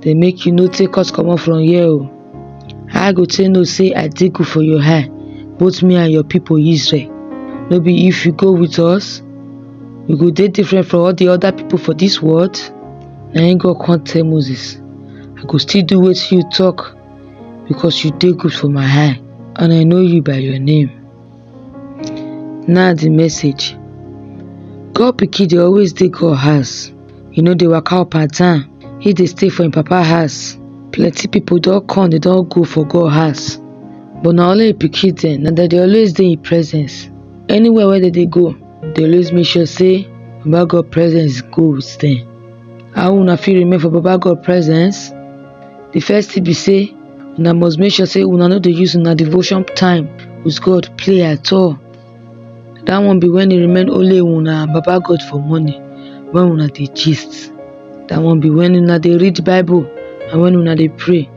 dey make you no take us comot from here o how i go take know say i dey good for your eye both me and your people israel no be if you go with us you go dey different from all the other people for this world na him god come tell moses i go still do wetin you talk because you dey good for my eye and i know you by your name na the message god pikin dey always dey god house e no dey waka up and down he dey stay for him papa house plenty people don come they don go for god house but na only him pikin dem na dem dey always dey him presence anywhere wey dem dey go dey always make sure say baba god presence go with dem how una fit remain for baba god presence the first thing be say una must make sure say una no dey use una devotion time with god play at all that one be when e remain only una and baba god for morning when una dey gist that one be when una dey read bible and when una dey pray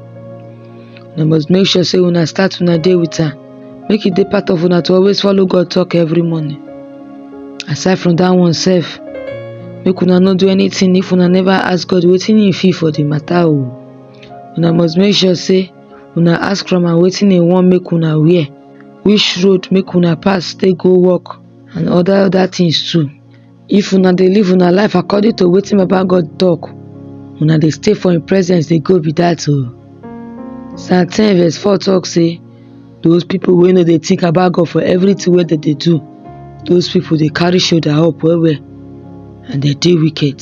una must make sure say una start una day with am make e dey part of una to always follow god talk every morning aside from that one sef make una no do anything if una never ask god wetin e feel for the matter o una must make sure sey una ask from am wetin e want make una wear, which road make una pass take go work and other other things too. If una dey live una life according to wetin baba God talk, una dey stay for im presence dey go be dat oo. Psalm ten verse four talk sey those people wey no dey think about God for everything wey dem dey do, those people dey carry shoulder up well well and dem dey wicked.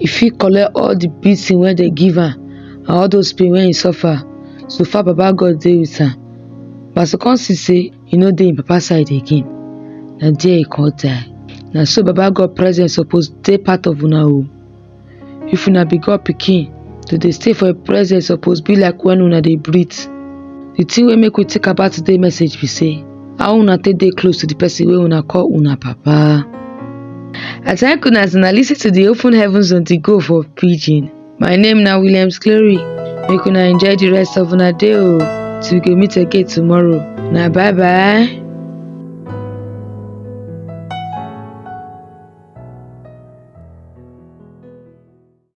e fit collect all the beating wey dem give am and all those pain wey e suffer so far baba God dey with am but as e come see say e no dey im papa side again na there e come die na so baba God presence suppose dey part of una o if una be God pikin to dey stay for im presence suppose be like when una dey breathe the thing wey make we think about today message be say How una take dey close to the person wey una call una papa? I thank una as una listen to the Open Heavens on the Go for Pidgin. My name na Williams Clary. Make una enjoy the rest of una day o. Till we go meet again tomorrow. Na bye bye.